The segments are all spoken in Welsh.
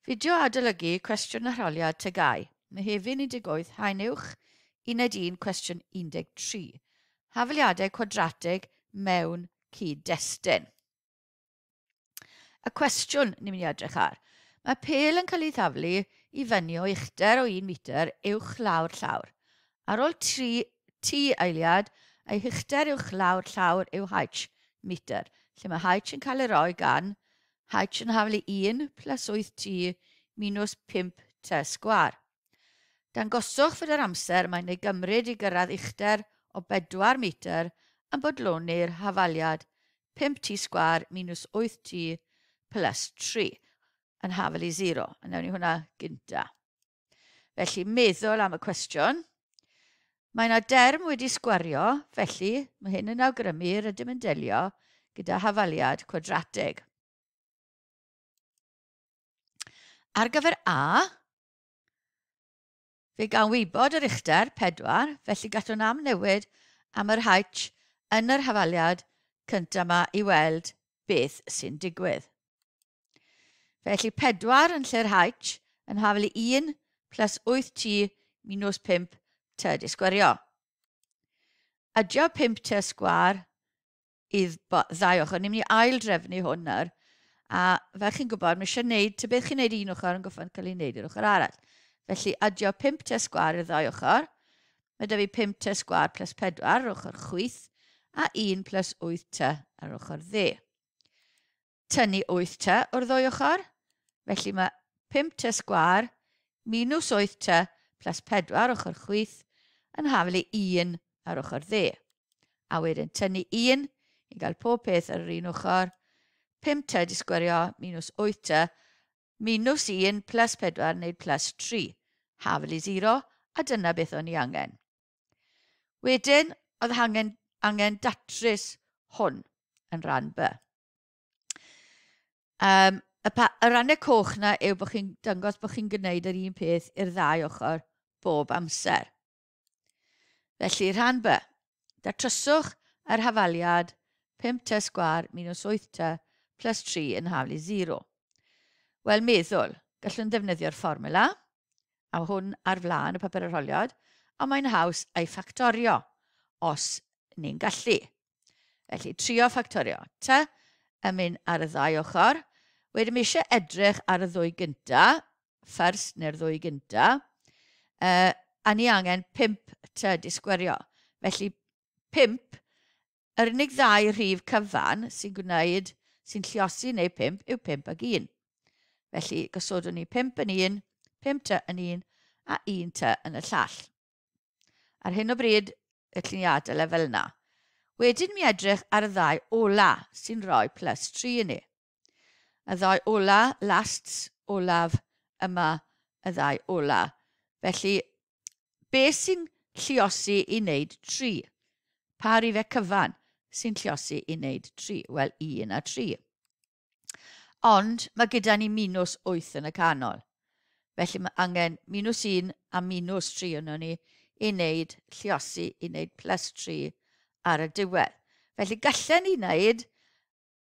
Fideo adolygu cwestiwn arholiad tygau, Mehefin 18 Haen Uwch, Uned 1, cwestiwn 13. Hafaliadau cwadrateg mewn cyd-destun. Y cwestiwn ni'n mynd i edrych ar. Mae pel yn cael ei thaflu i fyny o uchder o 1 metr uwch lawr llawr. Ar ol tri T eiliad, ei huchter uwch lawr llawr yw H, metr, lle mae H yn cael ei roi gan H yn haflu 1 plus 8 T minws 5 T sgwâr. Dangoswch fod yr amser mae'n ei gymryd i gyrraedd uchder o 4 metr yn bodloni'r hafaliad 5 T sgwâr minws 8 T plus 3 yn haflu 0. Yn ewn i hwnna gyntaf. Felly, meddwl am y cwestiwn. Mae yna derm wedi sgwario, felly mae hyn yn awgrymu rydym yn delio gyda hafaliad cwadrateg. Ar gyfer A, fe gawn wybod yr uchder 4, felly gallwn amnewid am yr H yn yr hafaliad cyntaf yma i weld beth sy'n digwydd. Felly 4 yn lle'r H yn haflu 1 plus 8t minus 5t di sgwerio. Adio 5t sgwar i ddau ochr. Ni'n mynd i ail drefnu hwn nawr. A fel chi'n gwybod, mae eisiau gwneud, ta beth chi'n gwneud un ochr yn goffan cael ei wneud i'r ochr arall. Felly adio 5t sgwar i'r ddau ochr. Mae da fi 5t sgwar plus 4 ar ochr chwyth a 1 plus 8t ar ochr dde. Tynnu wyth tŷ o'r ddwy ochr, felly mae pump tŷ sgwâr minws wyth tŷ plas pedwar ochr chwith yn haflu un ar ochr dde. A wedyn tynnu un i gael pob peth ar yr un ochr, pump tŷ disgwerio minws wyth tŷ minws un plas pedwar wneud plas tri, haflu sero, a dyna beth o'n i angen. Wedyn, oedd angen, angen datrys hwn yn rhan B. Um, y, pa, y rannau coch na yw bod chi'n dangos bod chi'n gwneud yr un peth i'r ddau ochr bob amser. Felly, rhan B. Datryswch yr hafaliad 5 t sgwar minus 8 t plus 3 yn haflu 0. Wel, meddwl, gallwn ddefnyddio'r fformula a hwn ar flaen y papur arholiad, a mae'n haws ei ffactorio os ni'n gallu. Felly, trio ffactorio. T yn mynd ar y ddau ochr. Wedyn mi eisiau edrych ar y ddwy gynta, first neu'r ddwy gynta, uh, a ni angen 5 t disgwerio. Felly 5 Yr unig ddau rhif cyfan sy'n gwneud, sy'n lliosi neu pump yw pump ag un. Felly, gosodwn ni pump yn un, pump ty yn un, a un ty yn y llall. Ar hyn o bryd, y lliniadau lefel yna. Wedyn mi edrych ar y ddau ola sy'n rhoi plus 3 i ni. Y ddau ola, lasts, olaf, yma, y ddau ola. Felly, be sy'n lliosi i wneud tri? Pa rifau cyfan sy'n lliosi i wneud tri? Wel, un a tri. Ond mae gyda ni minus 8 yn y canol. Felly mae angen minus 1 a minus 3 yno ni i wneud lliosi, i wneud plus 3 ar y diwedd. Felly gallen ni wneud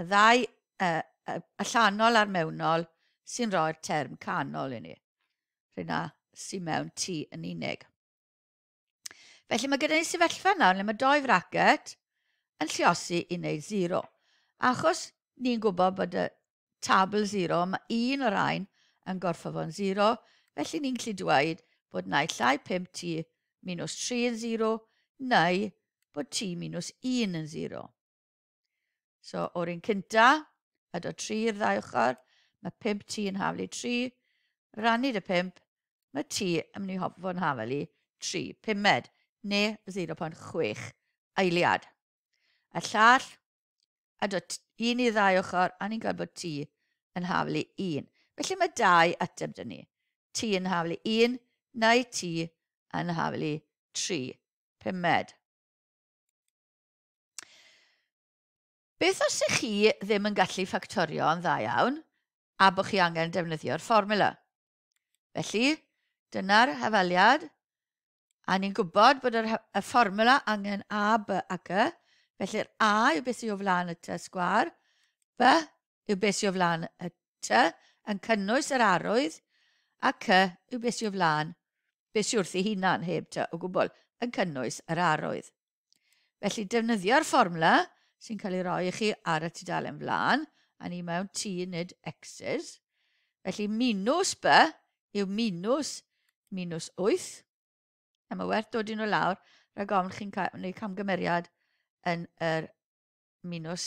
Y ddau, y, y, allanol a'r mewnol, sy'n rhoi'r term canol i ni. Rhaid na sy'n mewn tu yn unig. Felly mae gyda ni sefyllfa nawr lle mae doi fracket yn lliosi i wneud 0. Achos ni'n gwybod bod y tabl 0, mae un o'r rhain yn gorfod fo'n 0, felly ni'n gallu dweud bod naill llai 5 t minus 3 yn 0, neu bod t minus 1 yn 0. So, o'r un cynta, edo 3 i'r ddau ochr, mae 5 t yn haflu 3, rannu dy 5, mae t yn mynd i fod yn hafelu 3 pumed, neu 0.6 eiliad. A llall, edo un i ddau ochr, a ni'n gweld bod t yn haflu 1. Felly mae dau ateb dyn ni. T yn haflu 1, neu t yn haflu 3 pumed. Beth os ych chi ddim yn gallu ffactorio yn dda iawn a bod chi angen defnyddio'r fformula? Felly, dyna'r hafaliad, a ni'n gwybod bod yr, y fformula angen a, b a g, felly'r a yw beth sydd o flaen y t sgwar, b yw beth sydd o flaen y T yn cynnwys yr arwydd a C yw beth sydd o flaen beth sydd wrthi hunan heb T o gwbl yn cynnwys yr arwydd. Felly defnyddio'r fformwla sy'n cael ei roi i chi ar y tudalen flaen, a ni mewn T nid X's. Felly minws B yw minws minws 8. A mae werth dod i nhw lawr rhag ofn chi'n cael, wneud camgymeriad yn yr minws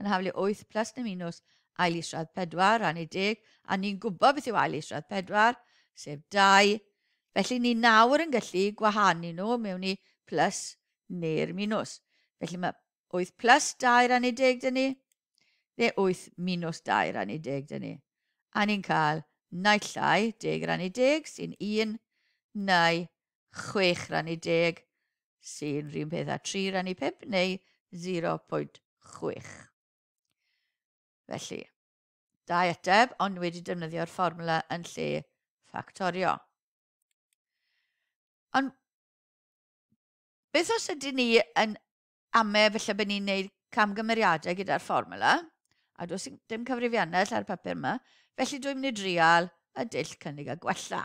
yn haflu 8 plus neu minws ail isradd 4 a neu deg, a ni'n gwybod beth yw ail isradd 4, sef 2, felly ni nawr yn gallu gwahanu nhw mewn i plus neu'r minws. Felly mae 8 plus 2 a neu deg dyn ni, neu 8 minws 2 a neu deg dyn ni. A ni'n cael naill ai deg a neu deg sy'n 1, neu 6 rannu 10 sy'n rhywun peth a 3 rannu 5 neu 0.6. Felly, da eteb, ond wedi defnyddio'r fformula yn lle ffactorio. Ond beth os ydyn ni yn ame, felly bod ni'n gwneud camgymeriadau gyda'r fformula, a dos i dim cyfrifiannell ar y papur yma, felly dwi'n mynd i drial y dull cynnig a gwella.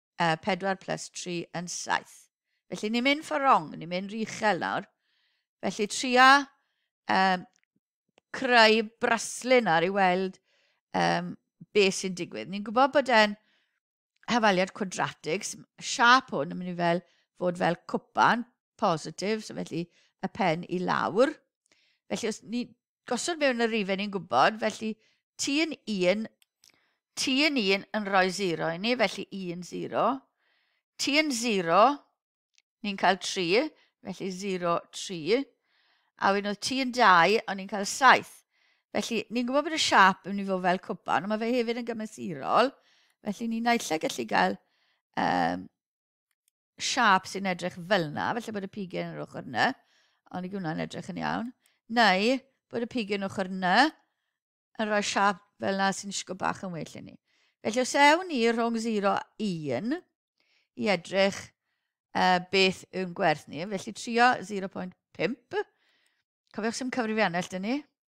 Uh, 4 plus 3 yn 7. Felly ni'n mynd for wrong, ni'n mynd rhy uchel nawr. Felly tria um, creu braslun ar i weld um, be sy'n digwydd. Ni'n gwybod bod e'n hafaliad cwadratig, siap hwn yn mynd i fel fod fel cwpan, positif, so felly y pen i lawr. Felly os ni Gosod mewn y rhifau ni'n gwybod, felly ti yn un, ti yn un yn rhoi zero i ni, felly un zero. Ti yn zero, ni'n cael tri, felly zero tri. A wedyn oedd ti yn dau, o'n ni'n cael saith. Felly, ni'n gwybod bod y siap yn mynd i fod fel cwpan, ond mae fe hefyd yn gymesurol. Felly, ni'n naill gallu cael um, siâp sy'n edrych fel yna, felly bod y pigiau yn yr ochr yna, ond i gwna'n edrych yn iawn, neu bod y pigiau yn ochr yna yn rhoi siâp fel yna sy'n disgwyl bach yn well i ni. Felly os ewn ni rhwng 0 a 1 i edrych uh, beth yw'n gwerth ni, felly trio 0.5, cofiwch sy'n cyfrifiannell dyn ni,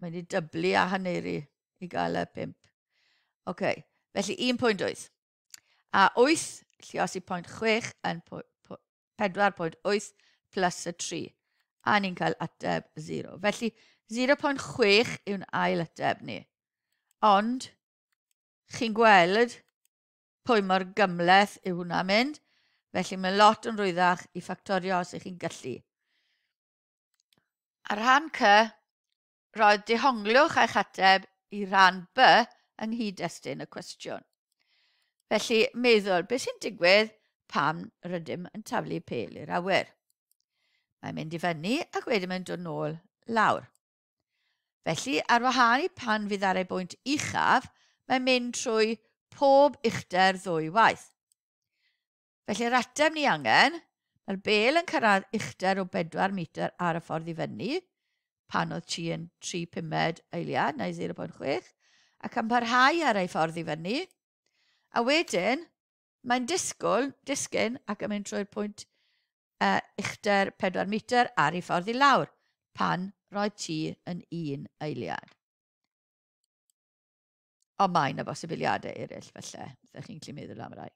Mae'n ei dyblu a haneri i gael y pimp. Oce, okay. felly 1.8. A 8, llios i pwynt 6 yn 4.8 plus y 3. A ni'n cael ateb 0. Felly 0.6 yw'n ail ateb ni. Ond, chi'n gweld pwy mor gymleth yw hwnna mynd, felly mae lot yn rwyddach i ffactorio os ych chi'n gallu. A rhan C, roedd dehongliwch eich ateb i ran B yng nghyd-destun y cwestiwn. Felly, meddwl, beth sy'n digwydd pan rydym yn taflu pel i'r awyr? Mae'n mynd i fyny ac wedyn mae'n dod nôl lawr. Felly, ar wahân i pan fydd ar ei bwynt uchaf, mae'n mynd trwy pob uchder ddwy waith. Felly yr ateb ni angen, mae'r bel yn cyrraedd uchder o 4 metr ar y ffordd i fyny, pan oedd chi yn 3 pumed eiliad neu 0.6, ac yn parhau ar ei ffordd i fyny, a wedyn mae'n disgwyl, disgyn ac yn mynd trwy'r pwynt uh, uchder 4 metr ar ei ffordd i lawr pan roedd ti yn un eiliad. Ond mae yna bosibiliadau eraill felly, ydych chi'n gallu meddwl am rai.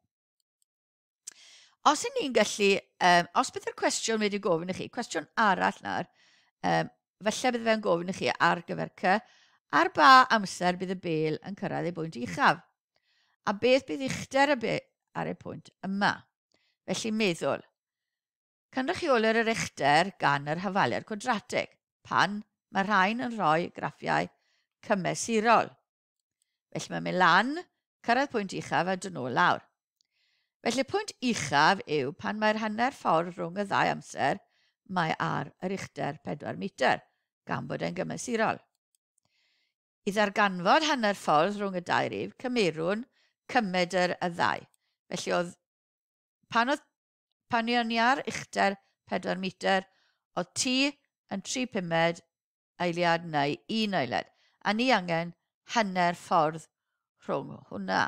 Os yn ni'n gallu, um, os bydd yr cwestiwn wedi gofyn i chi, cwestiwn arall nawr, um, felly bydd fe'n gofyn i chi ar gyfer cy, ar ba amser bydd y bel yn cyrraedd ei bwynt uchaf, a beth bydd uchder y bel ar ei pwynt yma. Felly meddwl, cynrychiolir yr uchder gan yr hyfaler cwadratig pan mae rhain yn rhoi graffiau cymesurol. Felly mae'n mynd lan, cyrraedd pwynt uchaf a dyn nhw lawr. Felly pwynt uchaf yw pan mae'r hanner ffordd rhwng y ddau amser, mae ar yr uchder 4 metr, gan bod e'n gymesurol. I ddarganfod hanner ffordd rhwng y dau rif, cymerwn cymedr y ddau. Felly oedd pan oedd pan ni o'n i ar uchder 4 metr, oedd ti yn 3 pumed eiliad neu un eiliad, a ni angen hanner ffordd rhwng hwnna.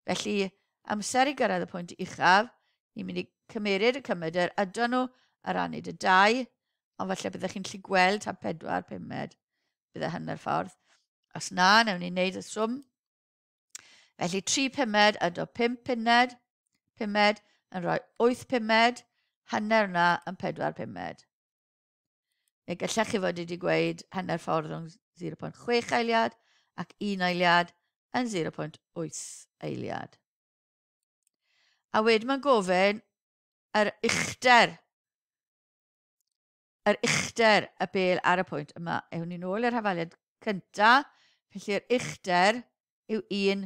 Felly, amser i gyrraedd y pwynt uchaf, ni'n mynd i cymeryd y cymed yr ydon nhw ar anid y dau, ond falle byddech chi'n lli gweld ta pedwar pumed bydd y hanner ffordd. Os na, newn ni wneud y swm. Felly, tri pumed ydo pum pumed, pumed yn rhoi wyth pumed, hanner yna yn pedwar pumed. Neu gallech chi fod wedi gweud hanner ffordd rhwng 0.6 eiliad ac 1 eiliad yn 0.8 eiliad. A wedyn mae'n gofyn yr uchder, yr uchder y bel ar y pwynt yma. Ewn ni'n ôl i'r hafaliad cyntaf, felly'r uchder yw 1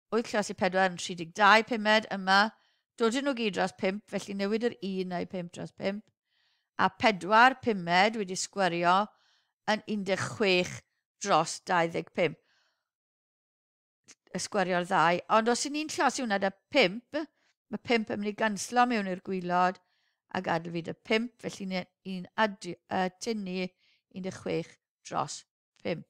wyth llaws i pedwar yn 32 pumed yma. Dodyn nhw gyd dros pump, felly newid yr un a'i pump dros pump. A pedwar pumed wedi sgwario yn 16 dros 25. Y sgwario'r ddau. Ond os i ni'n llaws i hwnna da pump, mae pump yn mynd i ganslo mewn i'r gwylod a gadw fi da pump, felly ni'n uh, tynnu 16 dros pump.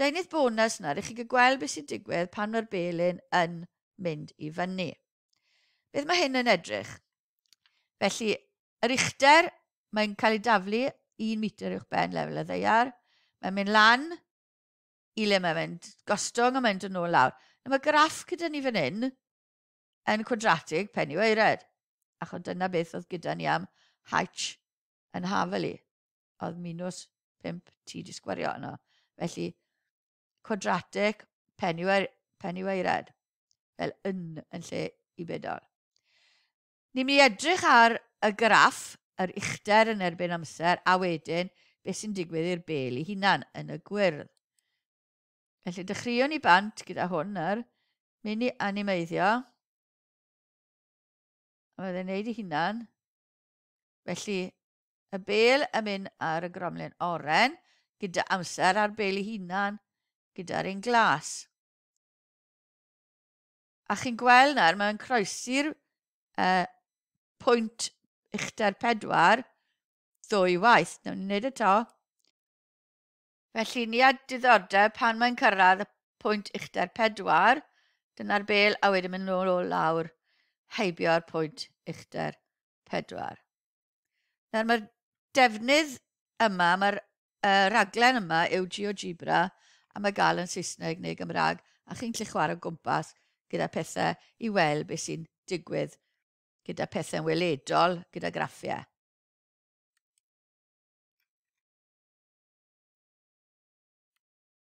Deunydd bonus nawr i chi gael gweld beth sy'n digwydd pan mae'r belyn yn mynd i fyny. Beth mae hyn yn edrych? Felly, yr uchder, mae'n cael ei daflu 1 metr uwch ben lefel y ddeiar. Mae'n mynd lan i le mae'n mynd gostwng a mae'n dod nôl lawr. Nawr mae graff gyda ni fan hyn yn cwadratig pen i weired, achos dyna beth oedd gyda ni am H yn hafel i. oedd minws 5 ti wedi sgwario yno. Felly, quadratic penyweired, penyweired fel yn yn lle i bedol. Ni'n mynd i edrych ar y graff, yr uchder yn erbyn amser, a wedyn beth sy'n digwydd i'r bel i hunan yn y gwyrdd. Felly dechreuwn ni bant gyda hwn yr mynd i animeiddio. A mae'n ei wneud ei hunan. Felly, Y bêl yn mynd ar y gromlin oren, gyda amser a'r bêl ei hunan, gyda'r un glas. A chi'n gweld nawr, mae'n croesi'r uh, pwynt uchder pedwar ddwy waith. Nawr ni'n gwneud y to. Felly ni a diddordeb pan mae'n cyrraedd y pwynt uchder pedwar, dyna'r bel a wedyn mynd nôl o lawr heibio'r pwynt uchder pedwar. Nawr mae'r defnydd yma, mae'r uh, raglen yma yw GeoGebra a mae gael yn Saesneg neu Gymraeg a chi'n gallu chwarae o gwmpas gyda pethau i weld beth sy'n digwydd gyda pethau'n weledol, gyda graffiau.